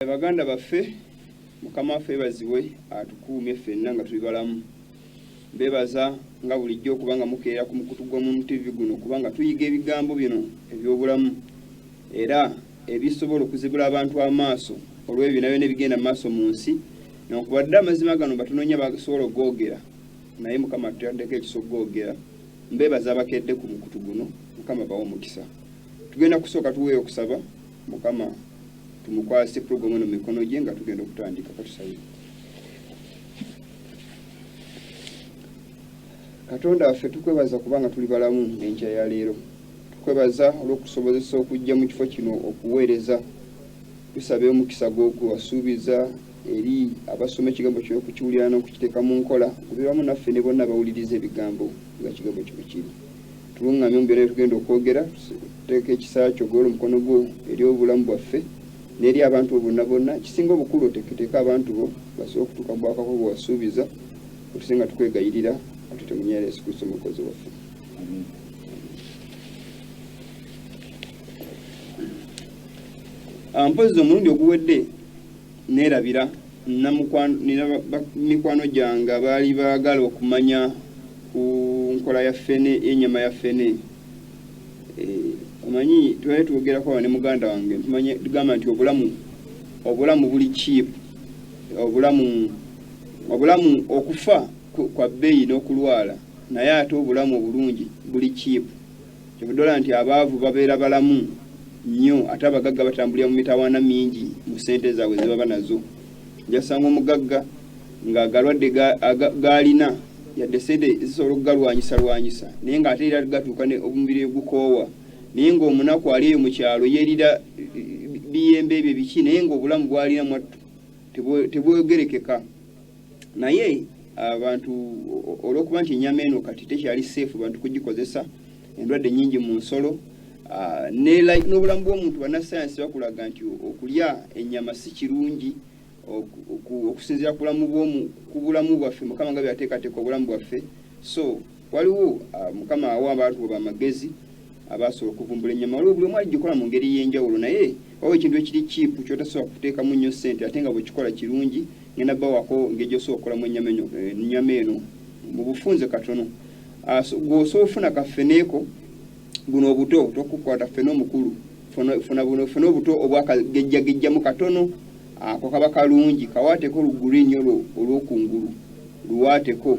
Baganda baffe mukama waffe ebazibwe atukuumye ffenna nga tuli balamu bebaza nga bulijjo okuba nga mukeera ku mukutu gw'omumu tv guno kubanga tuyiga ebigambo bino eby'obulamu era ebisobola okuzibula abantu amaaso olw'ebyo byona byona ebigenda mu maaso mu nsi nokubadde amazima gano batunoonya basobola okugoogera naye mukama tutaddeko ekisa okugoogera mbebaza abakedde ku mukutu guno mukama bawa omukisa tugenda kusooka tuweeyo okusaba mukama tumukwase program eno mikono gye nga tugenda okutandika katusabe katonda waffe tukwebaza kubanga tuli balamu enkya ya leero tukwebaza olw'okusobozesa okujja mu kifo kino okuweereza tusabe omukisa gwogwo wasuubiza eri abasoma ekigambo kyo okukiwulira n'okukiteeka mu nkola kubiramu naffe ne bonna bawuliriza ebigambo nga kigambo kyo bwe kiri Tulungamya mu byonna bye tugenda okwogera, teeka ekisa kyo golola omukono gwo eri obulamu bwaffe n'eri abantu bo bonna bonna. Ekisinga obukulu oteeketeeke abantu bo basobole okutuuka mu bwakabaka bwe wasuubiza. Otuse nga tukwegayirira ate temunyera Yesu Kristo omukozi waffe. Ah, mpozzi omulundi oguwedde Nneerabira mikwano gyange abaali baagala okumanya ku nkola ya ffene y'ennyama ya ffene. Omanyi twali twogerako awo ne muganda wange ntumanya tugamba nti obulamu obulamu buli kiipu, obulamu obulamu okufa kwa bbeeyi n'okulwala naye ate obulamu obulungi buli kiipu. Kyovudde olaba nti abaavu babeera balamu nyo ate abagagga batambulira mu mitawaana mingi mu sente zaabwe zebaba nazo. Ojja kusanga omugagga nga agalwadde gaalina yadde sente zisobola okugalwanyisa lwanyisa naye nga ate era gatuuka omubiri negukoowa naye nga omunaku ali eyo mu kyalo yerira biyembe ebyo biki naye nga obulamu bwalina mwattu tebwogerekeka. naye abantu olwokuba nti enyama eno kati tekyali safe bantu kugikozesa endwadde nyingi mu nsolo Ah, n'obulamu bw'omuntu bannasayansi bakulaga nti okulya ennyama si kirungi okusinziira ku bulamu bwaffe mukama nga byateekateeka obulamu bwaffe so Waliwo ah, Mukama awa abantu bwe bamagezi abaasobola okuvumbula ennyama waliwo buli omu aligikola mu ngeri ey'enjawulo naye waliwo ekintu ekiri kiipu kyotasobola kuteekamu nnyo ssente ate nga bwekikola kirungi ngenda bawako ngeri gyosobola okukolamu ennyama eno eh, mu bufunze katono ah, gwosobola ofuna kafeneeko buno obuto tokukwata fena omukulu funa buno funa obuto obwakagejjagejjamu katono ako ah, kaba kalungi kawaateko lugulinnyo olwokungulu luwaateko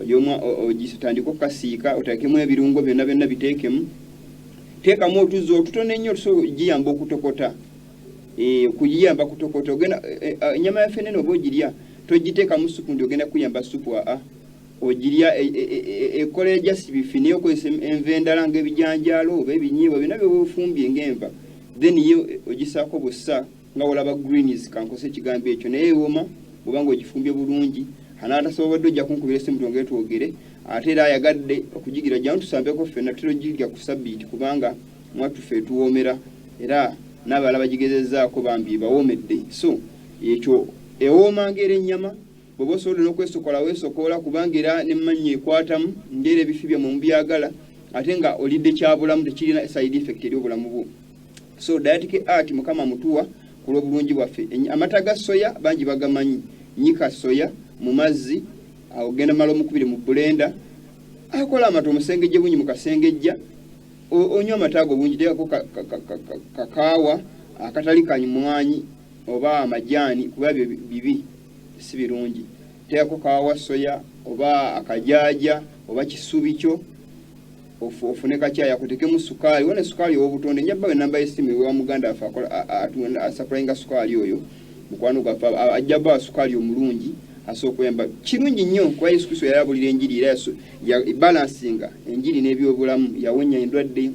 ojomu ogitandika okukasiika oteekemu ebirungo byonna byonna biteekemu teekamu otuzzi otutono ennyo giyamba okutokota eh, okugiyamba kutokota ogenda eh, eh, enyama ya fenene oba ogirya togiteekamu supu ndi ogenda kuyamba supu aa ogirya e, e, e, ekola ejasi bifi naye okozesa enva endala ngaebijanjaalo oba ebinyiibwa byonna byoba ofumbye ngaenva then ye ogisaako bussa nga olaba greens kankose ekigambo ekyo naye ewoma bwoba nga ogifumbye bulungi anaatasobodde ojja kunkubira esimu twongere twogere ate era ayagadde okugigira jjamu tusambeko ffenna tutera ogirya ku sabbiiti kubanga mwattufe etuwoomera era n'abalala bagigezezaako bambi ebawoomedde so ekyo ewooma ngaera ennyama bwoba osobodde n'okwesokola weesokoola kubanga era nemmannya ekwatamu ngaera ebifi byammwe mubyagala ate nga olidde kyabulamu tekirina side effect eri obulamu bwo so dayatike art mukama mutuwa kulwobulungi bwaffe amata ga soya bangi bagamanyi nyika soya mu mazzi awo genda mala omukubire mu bulenda akola amata omusengejje bungi mukasengejja onywa amata ago bungi tekako kakaawa akatali kanyumwanyi oba amajaani kuba byo bibi si birungi tekako kawawa soya oba akajaaja oba kisubi kyo ofune kakyayi akutekemu sukaali wona sukaali owobutonde nja bawe namba yesimu ewa muganda afe atunda asapulainga sukaali oyo mukwano gwaffe ajja bawa sukaali omulungi asookuyamba kirungi nnyo kuba yesu kristo yali abulira enjiri era balansinga enjiri n'ebyobulamu yawonya endwadde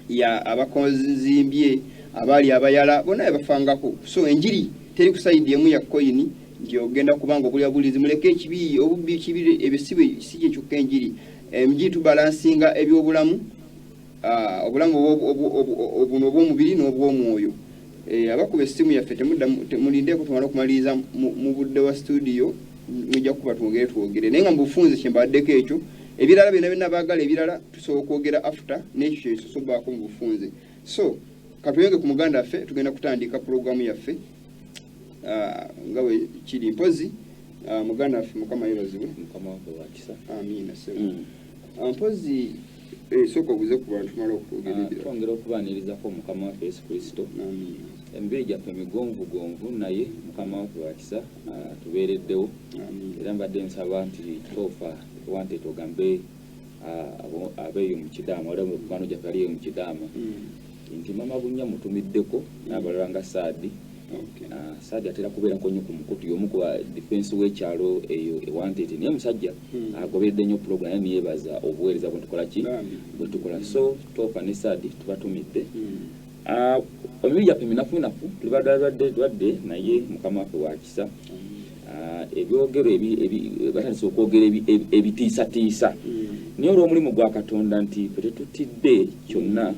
ya abakonzimbye abaali abayala bona yabafangako so enjiri teri kusayidi emu ya koyini nti ogenda kubanga obuli abulizi muleke ekibi obubbi kibi ebisibe si kyekyokka enjiri Emgi tubalansinga eby'obulamu, ah, obulamu obuno obw'omubiri n'obw'omwoyo. Eh, abakuba essimu yaffe temulindeeko tumala okumaliriza mu budde wa situdiyo mujja kuba twogere twogere naye nga mubufunze kyembaddeko ekyo ebirala byona byona bagala ebirala tusobola okwogera after nekyo kyesosobaako mubufunze so katuyonge ku muganda affe tugenda kutandika pulogulamu yaffe ah, nga bwe kiri mpozi ah, muganda waffe mukama yebazibwe mukama waffe wakisa amiina sebo mm. ah, mpozi eh, sooka obuze ku bantu mala okutwogerera twongera okubaanirizako mukama waffe yesu kristo amiina emibiri gyaffe migonvugonvu naye mukama waffe wakisa tubeereddewo era mbadde nsaba nti toofa wante togambe abeeyo mu kidaama ola mukugano gyaffe aliyo mu kidaama mm. nti mama bunya mutumiddeko n'abalala nga saadi saadi atera kubeerako nnyo ku mukutu y'omu ku difensi w'ekyalo eyo ewantete naye musajja hmm. agoberedde nnyo pulogulamu era neyebaza obuweereza bwe tukola ki bwe tukola so toofa ne saadi tubatumidde hmm. ah, omibiri gyaffe minafunafu tuli badalwadde dwadde naye mukama waffe wakisa hmm. ah, ebyogero batandise okwogera ebitiisatiisa naye olw'omulimu gwa katonda nti fe tetutidde kyonna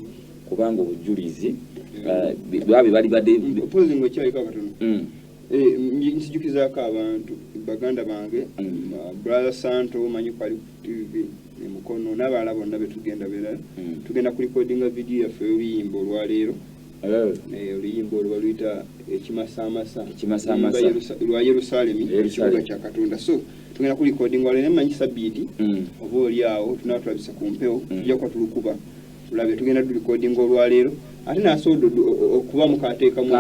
kubanga obujulizi babe bali bade mpozi ngo chali kwa katono mm. eh nsijukiza ka abantu baganda bange mm. uh, brother santo manyi kwa tv ne mukono nabala bonna betugenda bera mm. tugenda ku recording a video ya feyimbo lwa lero eh. eh oluyimbo olwaluyita ekimasamasa ekimasamasa lwa yerusalemi ekibuga kya katonda so tugenda ku recording wale ne manyi sabiti mm. obo lyawo tunatulabisa ku mpewo mm. tujja kwa tulukuba tulabye tugenda tu recording olwaleero ate nasobola okuba mukateekamu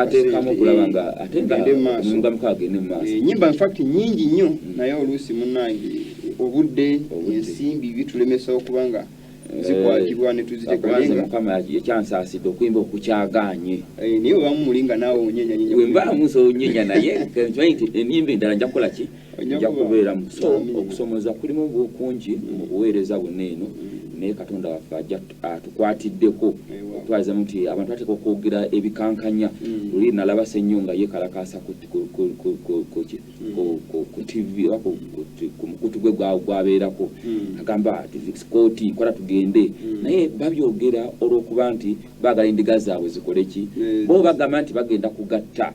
okulaba nga ate nga muka agende mu maaso enyimba eh, infact nyingi nnyo mm. naye oluusi munange obudde ensimbi bitulemesa okuba nga eh, zikwatibwa netuzitekamukama ekyansaasidde okuyimba okukyaganye eh, naye obamu muli nga naawe onyenyanyenyawemusoonyenya naye enyimba endala nja kukola ki ojja kubeera mu so okusomoza kulimu bukungi mu buweereza bonna eno naye katonda waffe ajja atukwatiddeko okutwalizamu nti abantu bateeka okwogera ebikankanya mm. luli nalaba sennyo nga yekalakaasa ku tv oba ku mukutu gwe gwabeerako mm. agamba kooti kola tugende mm. naye babyogera olwokuba nti baagala endiga zaabwe zikoleki bo bagamba nti bagenda kugatta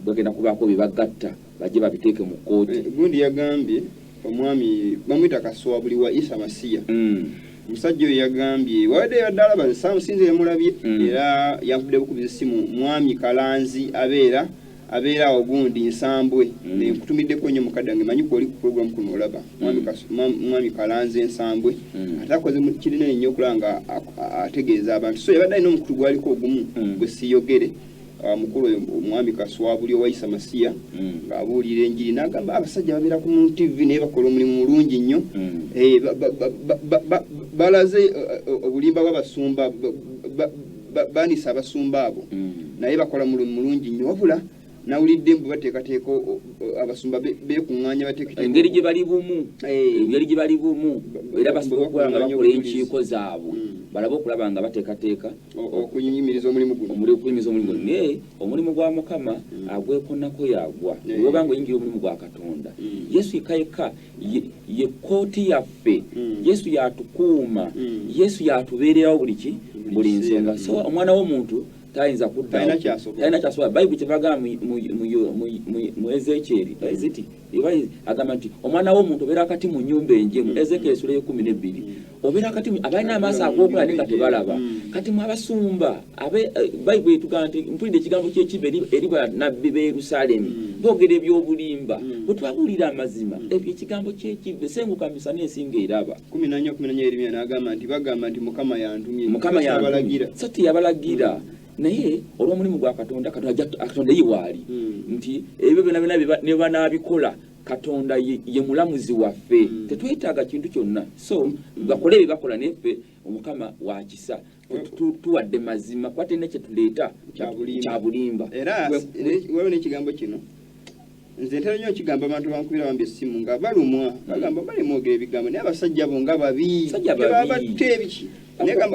bagenda kubaako bye bagatta bajje babiteeke mu kkooti. Eh, gundi yagambye omwami bamwita kaswa buli wa isa masiya mm. omusajja oyo yagambye wabadde yabadde alaba nsamusinza yamulabye mm. era yankubidde bukubiza essimu mwami kalanzi abeera abeera awo gundi nsambwe mm. nenkutumiddeko nnyo mukadde wange manyi kwoli ku programu kuno olaba mwami kalanzi ensambwe ate akoze kirina ennyo okulaba nga ategeeza abantu so yabadde alina omukutu gwaliko ogumu gwe siyogere Ah, mukulu oyo omwami kaswabuli owayisa masiya mm. ng'abuulira enjiri n'agamba abasajja babeera ku mu tv naye bakola omulimu mulungi nnyo mm. eh, balaze eh, eh, obulimba bw'abasumba baanisa abasumba abo mm. naye bakola mulimu mulungi nnyo wabula nawulidde mbu bateekateeka abasumba bekuŋŋaanya bateekaengeri gye bali bumu engeri gye bali bumu era basobola okuba nga bakola enkiiko zaabwe balabe okulaba nga bateekateeka okuyimiriza omulimu guno omuli okuyimiriza omulimu guno naye omulimu gwa mukama mm. agwekonako yagwa oba nga oyingira omulimu gwa katonda mm. yesu yekka yekka ye kooti yaffe mm. yesu yatukuuma yesu yatubeererawo buli ki buli nsonga so omwana w'omuntu tayinza kudda talina kyasobola bayibuli kyebagamba mu ezekyeri eziti Ibayi agamba nti omwana w'omuntu obeera akati mu nyumba enjemu mm. Ezekiel esula ekumi n'ebbiri mm. obeera akati abalina amaaso ag'okola naye nga tebalaba mm. kati mu abasumba abe eh, bayibu etugamba nti mpulidde ekigambo ky'ekiba eri banabbi b'e Yerusalemu boogera eby'obulimba bwe twabuulira amazima ebyo ekigambo ky'ekiba esenguka misana ensinga eraba kumi nanya kumi nanya erimya n'agamba nti bagamba nti mukama yantumye mukama yantumye so teyabalagira naye olw'omulimu gwa katonda katonda ye waali hmm. nti ebyo byona byona ne banaabikola katonda ye mulamuzi waffe hmm. tetwetaaga kintu kyonna so hmm. bakole ebyo bakola neffe omukama wakisa tuwadde mazima kuba tena kyetuleeta kyabulimba era wewe n'ekigambo kino nze ntera nnyo okigambo abantu bankubira bambi essimu nga balumwa bagamba bali mwogera ebigambo naye abasajja bo nga babi tebabatta ebiki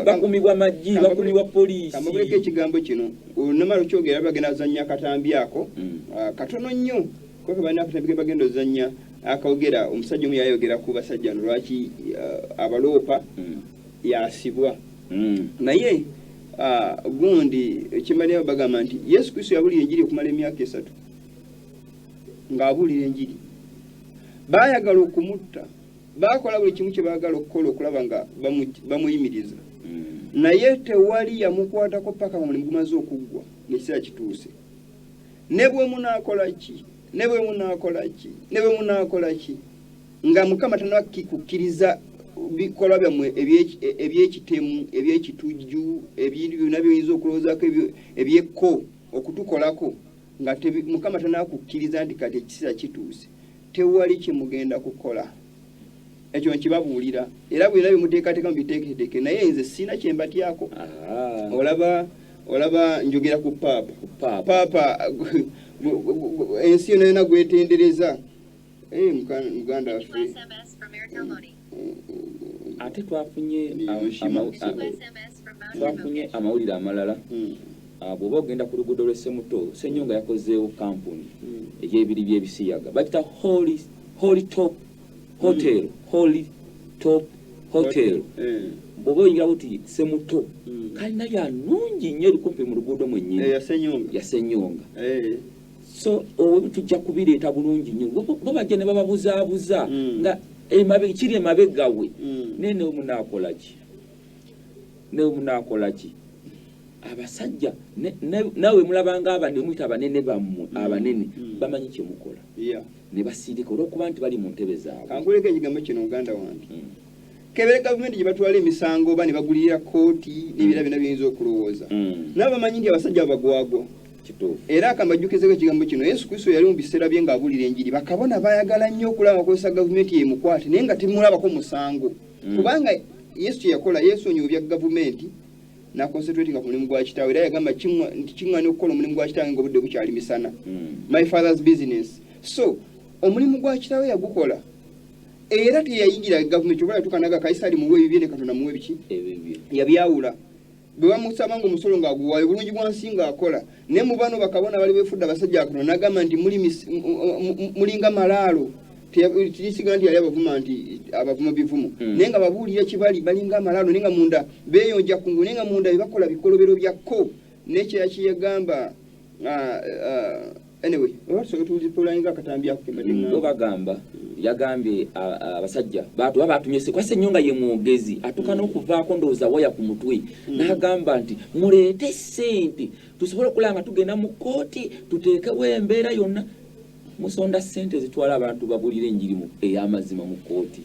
bakumibwa maggi bakumibwa poliisi kamabuleko ekigambo kino olunamala okyogera bagenda azannya akatambi ako mm. ah, katono nnyo kubanga balina akatambi kebagenda ozannya akawogera omusajja omu yayogera ku basajja no lwaki ah, abaloopa mm. yasibwa mm. naye ah, gundi ekimalirayo bagamba nti yesu kristo yabulira enjiri okumala emyaka esatu ng'abuulira enjiri. Baayagala okumutta, baakola buli kimu kye baagala okukola okulaba nga bamuyimiriza, hmm. naye tewali yamukwatako paka nga mulimu gumaze okuggwa nekiseera kituuse. Ne bwe munaakola ki, ne bwe munaakola ki, ne bwe munaakola ki, nga Mukama tanakikukkiriza bikolwa byammwe ebyekitemu ebyekitujju ebintu byonna byoyinza okulowoozaako ebyekko okutukolako nga mukama tanakukkiriza nti kati ekiseera kituuse tewali kyemugenda kukola ekyo nkibabuulira era bwena byemuteekateeka mubiteeketeeke naye nze siina kyembatyako olaba olaba njogera ku paapa paapa ensi yona yona gwetendereza Eh, muka- muganda waffe New SMS from Airtel Money. ate twafunye Ni- am- ni- ama- ni- a- New SMS from Mount twafunye Remote. amawulire amalala Mm, Ah, bw'oba ogenda ku luguudo lw'e Semuto Ssenyonga yakozeewo kampuni mm. egy'ebiri by'ebisiyaga bakita holy holy top hotel holy top hotel Eh, bw'oba oyingira buti Semuto mm. kalina ya nungi nnyo eri kumpi mu luguudo mwennyini Eh, yasenyonga ya Ssenyonga Eh, so tujja kubireeta bulungi nyo bo bajja ne bababuzaabuza mm. nga kiri emabega we mm. naye newe munaakolaki newe munaakolaki abasajja nawe mulabanga abamuyita abanene bammwe mm. abanene bamanyi kyemukola ne basiirika olwokuba nti bali mu ntebe zaabwe kankuleko ekigambo kino muganda wange kebere gavumenti gye batwala emisango oba ne bagulirira kkooti n'ebira byonna biyinza okulowooza mm. nabo bamanyi nti abasajja abagwagwa era akambajjukizeko ekigambo kino yesu kristo yali mu biseera bye ng'abuulira enjiri bakabona baayagala nnyo okulaba bakozesa gavumenti yemukwate naye nga temulabako musango mm. kubanga yesu kye yakola yeesonyiwa ebya gavumenti nakonsentratinga ku mulimu gwa kitaawe era yagamba nti kiŋŋana okukola omulimu gwa kitaawe ngaobudde bukyali misana mm. my father's business so omulimu gwa kitaawe yagukola era teyayingira gavumenti oba yatuuka naga kayisaali muwe ebibye ne katonda muwe biki yabyawula bwe bamusaba nga omusolo ng'aguwaayo bulungi bwa nsi ng'akola naye mu bano bakabona bali befudde abasajja akatonda nagamba nti mulinga malaalo tisiga nti yali abavuma nti abavuma bivumo hmm. naye nga babuulira kibali balinga amalaalo naye nga munda beyonja kungu naye nga munda bebakola bikolobero byakko nekyeya kyeyagamba ah, ah, anyway obasobola tuwulira polani nga akatambi ako kemade mm, bagamba yagambye abasajja batu baba atumye kwase nnyo nga ye mwogezi atuuka mm. n'okuvaako ndowooza waya ku mutwe mm. n'agamba nti muleete ssente tusobole okulaba nga tugenda mu kkooti tuteekewo embeera yonna musonda ssente zitwala abantu babulire enjirimu ey'amazima mu kkooti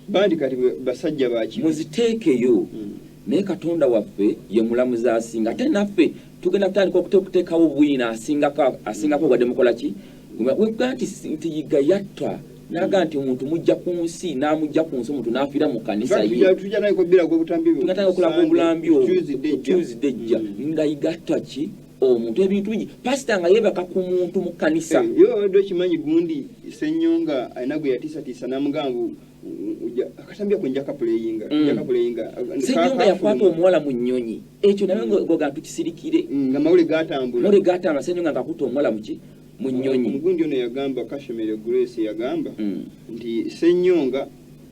Bandi kati basajja baki. Muziteekeyo. Mm. Naye Katonda waffe ye mulamuzi asinga. Ate naffe tugenda kutandika okuteekawo bwino asingako asingako wadde mukola ki? Webga nti nti yiga yatta naga nti omuntu mujja ku nsi n'amujja ku nsi omuntu n'afiira mu kanisa yeatandika okulaga obulambi obwo tuesday ejja mm. nga yiga atta ki omuntu ebintu bingi pasita nga yebaka ku muntu mu kkanisa eh, yo abadde okimanyi gundi senyonga alina gwe yatiisatiisa namugamba akatambi ako nja kapuleyinga mm. nja kapuleyinga senyonga yakwata omuwala mu nnyonyi ekyo naye mm. goga tukisirikire mm, nga mawule gatambula mawule gatambula senyonga ngakuta omuwala muki mu nnyonyi omugundi ono yagamba kashemere grace yagamba nti senyonga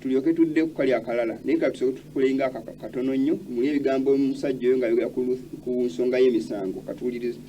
tulyoke tudde ku kali akalala naye katusooke tukulenga katono nnyo muli ebigambo omusajja oyo ng'ayogera ku nsonga y'emisango katuwulirize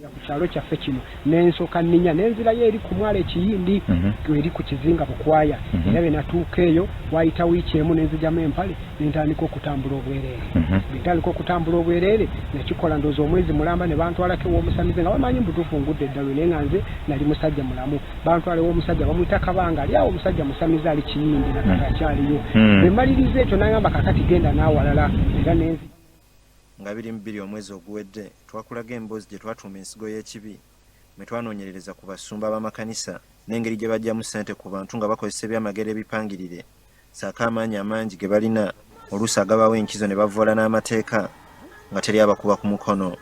ku kyalo kyaffe kino nensoka ninya nenzirayo eri ku mwalo ekiyindi mhm. eri ku kizinga bukwaya mhm. era bwe natuuka eyo wayita wiiki emu nenzijamu empale nentandika okutambula obwereere mhm. bwentandika okutambula obwereere nakikola ndooza omwezi mulamba ne bantwalako ew'omusamize nga bamanyi mbutuufu ngudde eddalu naye nga nze nali musajja mulamu bantwala ew'omusajja bamuyita kabanga ali awo omusajja musamize ali kiyindi nakati hmm. akyaliyo hmm. bwe mmaliriza ekyo n'agamba kakati genda n'awalala era nenzi nga biri mu bbiri omwezi oguwedde twakulaga emboozi gye twatuuma ensigo y'ekibi mwe twanoonyerereza ku basumba b'amakanisa n'engeri gye bajjamu ssente ku bantu nga bakozesa ebyamagero ebipangirire saako amaanyi amangi ge balina oluusi agabawo enkizo ne bavvoola n'amateeka nga teri abakuba ku mukono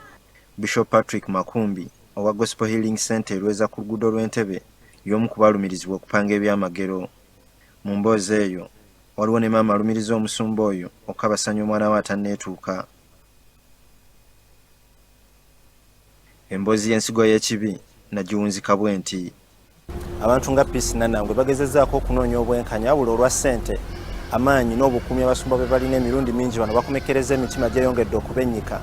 bishop patrick makumbi owa Gospel Healing Centre e Lweza ku luguudo lw'e Ntebe y'omu ku baalumirizibwa okupanga ebyamagero. Mu mboozi eyo, waliwo ne maama alumiriza omusumba oyo okukabasanya omwana we atanneetuuka. Emboozi y'ensigo y'ekibi nagiwunzika bwenti. abantu nga peace nanangwe bagezezaako okunoonya obwenkanya wabula olwa ssente amaanyi n'obukuumi abasumba bwe balina emirundi mingi bano bakomekereza emitima gyeyongedde okubennyika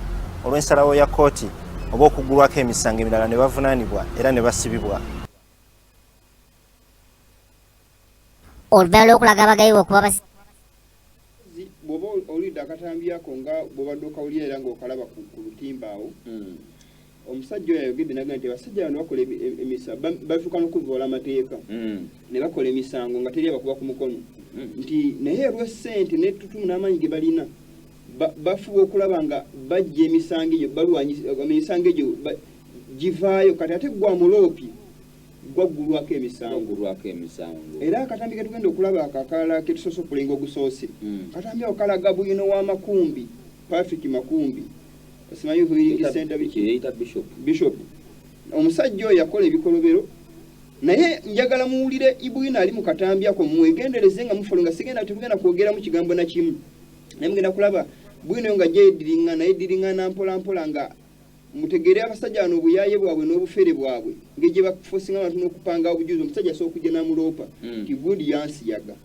olw'ensalawo ya kkooti oba okuggulwako emisango emirala ne bavunaanibwa era ne basibibwa oludala lwokulaga abagayiwa okuba basi bwoba olidde akatambi ako nga bwobadde okawulira era ngaokalaba ku lutimba awo hmm. omusajja oyo ayogedde naga nti abasajja bano bakola emisa bafuuka nokuvoola amateeka hmm. ne bakola emisango nga teri abakuba ku mukono hmm. nti naye olwa sente netutumu n'amaanyi ge balina bafuba okulaba nga bajja emisango egyo balwanyisa emisango egyo givaayo kati ate gwa muloopi gwaggulwako emisango emisango era akatambi ke tugenda okulaba ako akalala ke tusoose okulenga ogusoose hmm. katambi ako kalaga bwino wa makumbi patrick makumbi simanyi kuyiringisenta bishop omusajja oyo yakola ebikolobero naye njagala muwulire ibwina ali mu katambi ako mwegendereze nga mufolo nga sigenda tetugenda kwogeramu kigambo na kimu naye mugenda kulaba bwino nga gyediringana ediringana mpolampola nga Mutegere abasajja bano obuyaye bwabwe nobufere bwabwe ngeri gyebakufosinga abantu nokupanga obujuzi omusajja asobola okujja namuloopa mm. nti gundi yansiyaga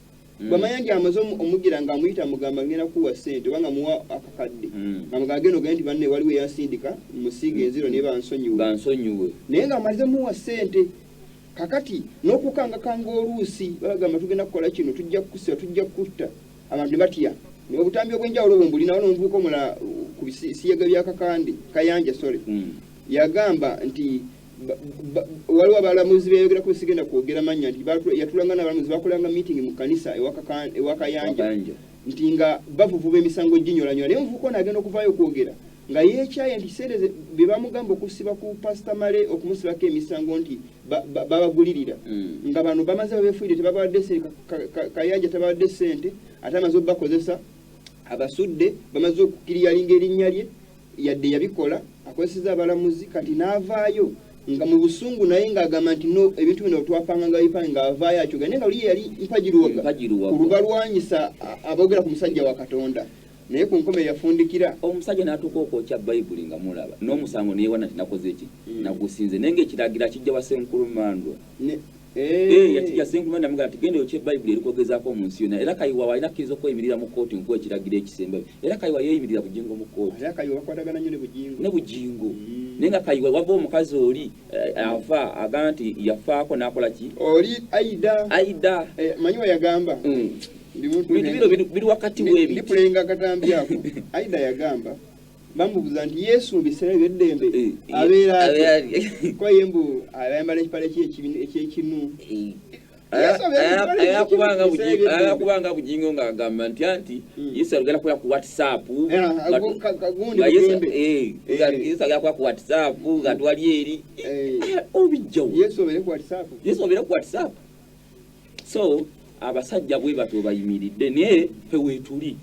mm. bwamanya nti amaze omugira nga amuyita amugamba ngenda kuwa sente oba nga muwa akakadde mm. nga mugamba genda ogende nti banne waliwo eyasindika musiiga enziro naye bansonyiwe naye nga amaze muwa sente kakati nokukangakanga oluusi bagamba tugenda kukola kino tujja kukusiba tujja kukutta abantu batya obutambi obwenjawulo bwe mbulina wano omuvubuka omulala ku bisiyega bya kakande kayanja sole hmm. yagamba nti waliwo abalamuzi beyogera ku sigenda kwogera manya nti yatulanga nabalamuzi bakolanga meeting mu kanisa ewakayanja nti nga bavuvuba emisango ginyolanyola naye omuvubuka ono agenda okuvaayo okwogera nga yeekyaye nti ssente bye bamugamba okusiba ku pasita male okumusibako emisango nti babagulirira mm. nga bano bamaze babefuire tebabawadde kayanja tabawadde ssente ate amaze obubakozesa abasudde bamaze okukiriyalinga erinnya lye yadde yabikola akozeseza abalamuzi kati n'avaayo nga mu busungu naye ng'agamba nti no ebintu bino twapanga nga bipange ng'avaayo akyoga naye nga luye yali mpagiruwaga ku lubalwanyisa aboogera ku musajja wa katonda Naye ku nkomerero yafundikira. Omusajja n'atuuka okwokya Bayibuli nga mulaba, n'omusango ne yeewana nti nakoze ki? Hmm. Nagusinze. Naye ng'ekiragiro akijja wa Ssenkulu Mandwa. Eh. Eh, yakijja Ssenkulu Mandwa amugamba nti genda oyokye Bayibuli erikwogezaako mu nsi yonna. Era Kayiwa waalina akkiriza okweyimirira mu kkooti nkuwa ekiragiro ekisembayo. Era Kayiwa yeeyimirira Bugingo mu kkooti. Era Kayiwa bakwatagana nnyo ne Bugingo. Ne Bugingo. Hmm. naye nga kayiwa wava omukazi oli eh, ava agamba nti yafaako nakola ki oli aida aida eh, manyi weyagamba mm. bintu bino biri wakati webi ndikulenga akatambi ako aida yagamba bamubuza nti yesu mubiseera byeddembe eh, eh, abeera kwaye mbu ayambala ekipala ekyekinu eh. ayakubanga bujingo nga agamba nti anti hmm. yesu alugenda kukola ku whatsapp yesu agenda kukola ku whatsapp nga twali eri obijjawo yesu obeere ku whatsapp so abasajja bwe batyo bayimiridde naye fe weetuli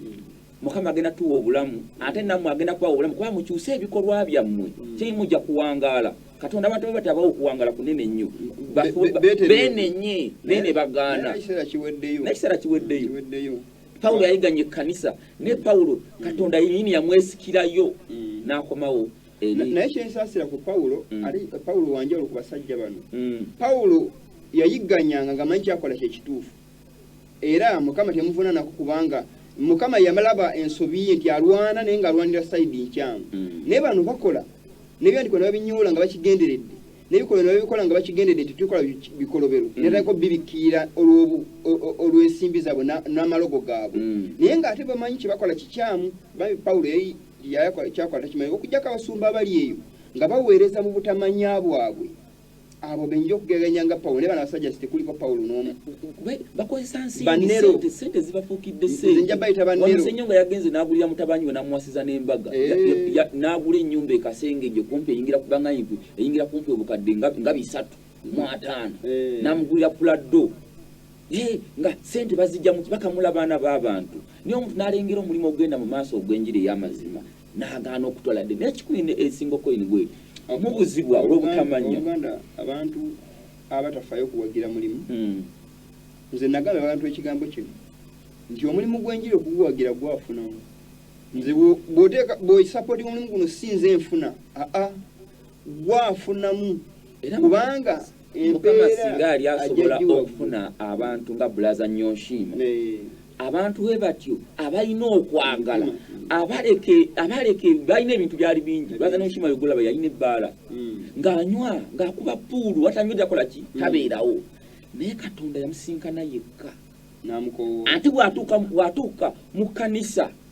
mukama agenda tuwa obulamu ate nammwe agenda kubawa obulamu kuba mukyuse ebikolwa byammwe mm. kyeyi mujja kuwangaala katonda abantu baba tabawo okuwangaala kunene nnyo benenye naye ne bagaana nekiseera kiweddeyo pawulo yayiganye ekkanisa ne pawulo katonda yenyini yamwesikirayo mm. n'akomawo naye kyensasira ku pawulo mm. ali pawulo wanjawulo ku basajja bano mm. pawulo yayigganyanga nga manyi kyakola kyekituufu era mukama temuvunanako kubanga mukama yamalaba ensobi ye nti alwana naye nga alwanira saidi nkyamu mm. naye bano bakola nebyandiko nebabinyoola nga bakigenderedde nebikolobero nebabikola nga bakigenderedde nti tukola bikolobero netako bibikiira olwensimbi zaabwe n'amalogo gaabwe naye nga ate bamanyi kyebakola kikyamu bambi pawulo kyakola takimanyi okujjako abasumba abali eyo nga baweereza mu butamanya bwabwe abo benja okugeganya nga pawulo naye bano abasajja sitekuliko pawulo n'omu bakozesa nsiisente zibafuukidde senja bayita bannerosenyo nga yagenze n'agulira mutabanyi we namuwasiza n'embaga eh. n'agula ennyumba ekasengeje kumpi eyingira kubanga inkwi eyingira kumpi obukadde nga bisatu mu ataano eh. n'amugulira puladdo nga sente bazijja mu bakamula baana b'abantu naye omuntu n'alengera omulimu ogenda mu maaso ogw'enjiri ey'amazima n'agaana okutwala dde naye kikulu ine esinga okoyini gwe mubuzibwa olw'obutamanya abantu abatafayo okuwagira mulimu hmm. nze nagamba abantu ekigambo kino nti omulimu gw'enjiri okuguwagira gwafunamu nze bwoteeka bwoisapoti omulimu guno si nze nfuna aa gwa afunamu kubanga mukama singa yali asobola okufuna abantu nga bulaza nyonshiima abantu we batyo abalina okwagala abaleke balina ebintu byali bingi bulaza nyonshiima yogolaba yalina ebbaala hmm. ng'anywa ng'akuba puulu watanywa jakola ki hmm. tabeerawo naye katonda yamusinkana yekka ati bwatuuka mu kanisa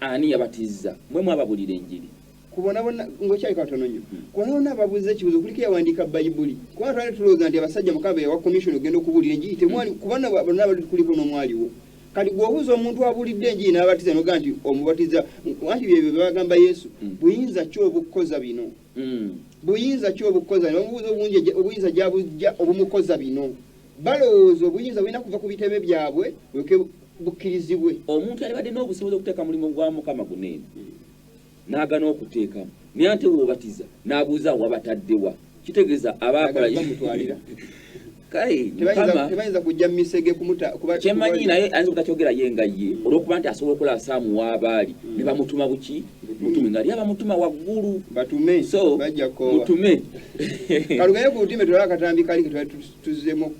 Ani yabatizza mwe mwababulira enjiri? kubonabona ngokyali katono nnyo hmm. kubonabona ababuuza ekibuzo kuliko yawandiika bayibuli kubanga twali tulowooza nti abasajja mukaba yawa komisioni okugenda okubuulira enjiri temwali hmm. kubana bonna bali kuliko n'omwaliwo kati gweobuuza omuntu abuulidde enjiri n'abatiza noga nti omubatiza anti byebyo byebagamba yesu hmm. buyinza ki obukukoza bino buyinza ki obukukoza bino omubuuza obungi obuyinza gyabujja obumukoza bino balowooza obuyinza bulina kuva ku bitebe byabwe bukkirizibwe. Omuntu yalibadde n'obusobozi okuteeka mulimu gwa Mukama guno eno n'agana okuteekamu, naye ate bw'obatiza n'abuuza wabatadde wa? Kitegeeza abaakola tebayinza kujja mumisege kyemanyi naye ayinza obutakyogera ye nga ye mm. olwokuba nti asobola okola asaamu waabaali mm. ne bamutuma buki mutume nga lyaba mutuma waggulu batume so mutume kalugaye ku butime tulaba akatambi kali ketwali tuzzemu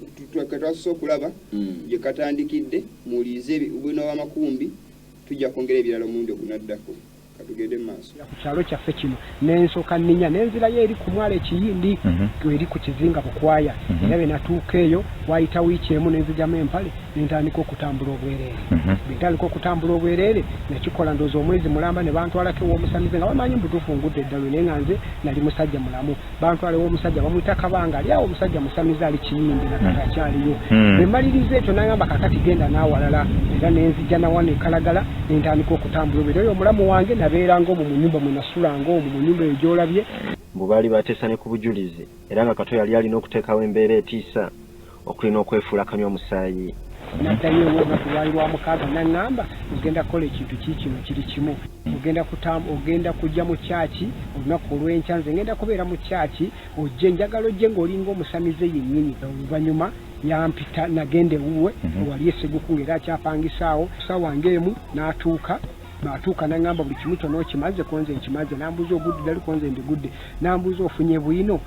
katwasose okulaba hmm. gye katandikidde muwulirize bwino wamakumbi tujja kwongera ebirala omulundi ogunaddako katugende maaso ku kyalo kyaffe kino nensoka ninya nenzirayo eri ku mwala ekiyindi mhm. eri ku kizinga bukwaya mhm. era bwe natuuka eyo wayita wiiki emu nenzijamu empale nentandika okutambula obwereere mhm. bwentandika okutambula obwereere nakikola ndooza omwezi mulamba ne bantwalako ewomusamize nga bamanyi mbutuufu ngudde eddalu naye nga nze nali musajja mulamu bantwala ew'omusajja bamuyita kabanga ali awo omusajja musamize ali kiyimbi nakati hmm. akyaliyo hmm. bwe mmaliriza ekyo nagamba kakati genda n'awalala era ne nzija nawano ekalagala ne ntandika okutambula obeera oyo omulamu wange nabeeranga omwo mu nyumba mwe nasulanga omwo mu nyumba eyo gy'olabye mbu baali bateesa ne ku bujulizi era nga kato yali alina okuteekawo embeera etiisa okuli n'okwefuula kanywa musaayi. Naddayo olunaku lwali lwa mukaaga n'aŋŋamba, Ogenda kukola ekintu kiikino, kiri kimu. Ogenda kuta, ogenda kujja mu kyaki olunaku olw'enkya. Nze ŋŋenda kubeera mu kyaki. Ojje, njagala ojje ng'olinga omusamize yennyini. Oluvannyuma yampita, nagenda ewuwe ewali e Seguku, ng'era akyapangisa awo. Ku ssaawa ng'emu n'atuuka. Bw'atuuka n'aŋŋamba, Buli kimu kyonna okimaze? Ko nze nkimaze. N'ambuuza, Ogudde dda li? Ko nze ndigudde. N'ambuuza, Ofunye bwino?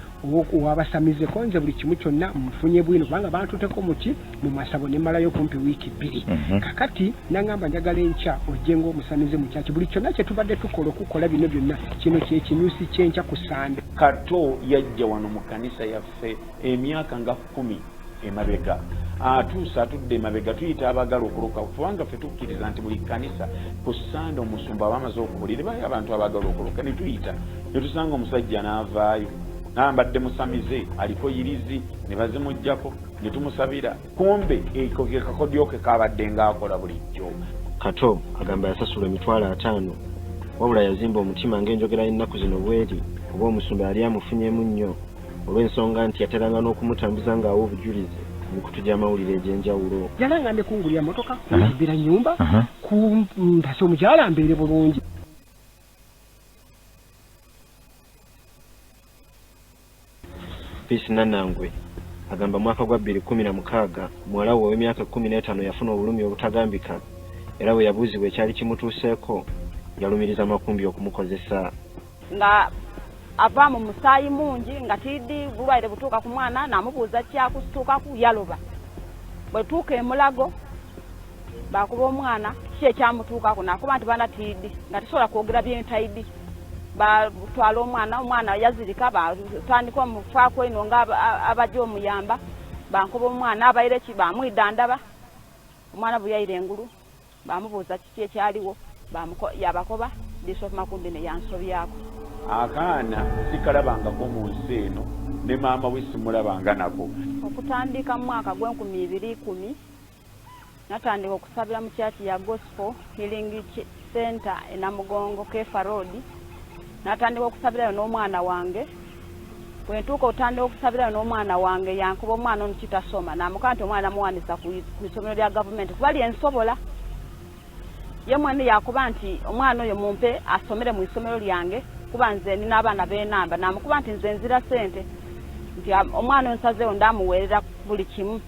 wabasamize konze buli kimu kyonna mufunye bwino kubanga bantuteko muki mu masabo ne malayo kumpi wiiki bbiri mm -hmm. kakati nangamba njagala enkya ojje ngaomusamize mukyaki buli kyonna kyetubadde tukola okukola bino byonna kino kyekinyusi kyenkya ku sande kato yajja wano mu kanisa yaffe emyaka nga kumi emabega atuuse atudde emabega tuyita abagala okuloka kubanga fe tukkiriza nti buli kanisa ku sande omusumba aba amaze okubulire bayo abantu abagala okuloka netuyita netusanga omusajja n'avaayo nambadde musamize aliko yirizi nebazimugjako netumusabira kumbe ekekakodyoke kabadde ngaakola bulijjo kato agamba yasasula emitwalo ataano wabula yazimba omutima ng'enjogera y'ennaku zino bweri kuba omusumba yali amufunyemu nnyo olw'ensonga nti yateranga n'okumutambuza ng'awa obujulizi ku mikutu gy'amawulire egy'enjawulo. Yalangambye kungulira mmotoka, kunzimbira nnyumba, kumpasa omukyala mbeere bulungi. Peace Nanangwe agamba mwaka gwa bbiri kkumi na mukaaga muwala we ow'emyaka ekkumi n'etaano yafuna obulumi obutagambika era bwe yabuuzibwa ekyali kimutuuseeko yalumiriza Makumbi okumukozesa. nga ava mu musaayi mungi nga tiidi bulwaire butuuka ku mwana namubuuza kyakusituukaku yaloba bwetuuka emulago bakuba omwana ki ekyamutuukaku nakuba nti bana tiidi nga tisobola kwogera byentaidi batwala omwana omwana yazirika batandika omufaku eno nga abaja omuyamba bankuba omwana abaire ki bamwidandaba omwana bweyaire engulu Baamubuuza kiki ekyaliwo, baamuko, yabakoba, Bishop Makumbi ne yansobyako. Akaana sikalabangako mu nsi eno, ne maama we simulabanga nako. Okutandika mu mwaka gw'enkumi ibiri ikumi, natandika okusabira mu kyaki ya Gospel Healing Center e Namugongo, Keefa Road, natandika okusabirayo n'omwana wange bwe ntuuka otandika okusabirayo n'omwana wange yankuba omwana ono kitasoma namukaa nti omwana namuwandisa ku isomero lya gavumenti kuba lyensobola ye mwene yakuba nti omwana oyo mumpe asomere mu isomero lyange kuba nze nina abaana benamba namukuba nti nze nzira sente nti omwana onsazewo ndamuweerera buli kimu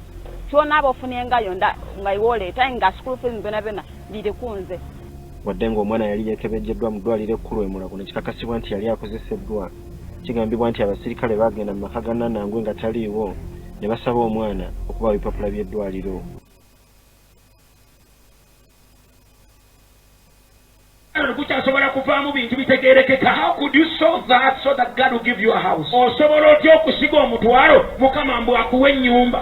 kyonaaba ofunyengayo nga iwoleeta nga school fees byona byona biri kunze Wadde ng'omwana yali yeekebejjeddwa mu ddwaaliro ekkulu e Mulago ne kikakasibwa nti yali akozeseddwa, kigambibwa nti abasirikale baagenda mu maka ga Nanangwe nga taliiwo ne basaba omwana okubawa ebipapula by'eddwaaliro. gukyasobola kuvaamu bintu bitegeerekeka osobola otya okusiga omutwalo mukama mbu akuwa ennyumba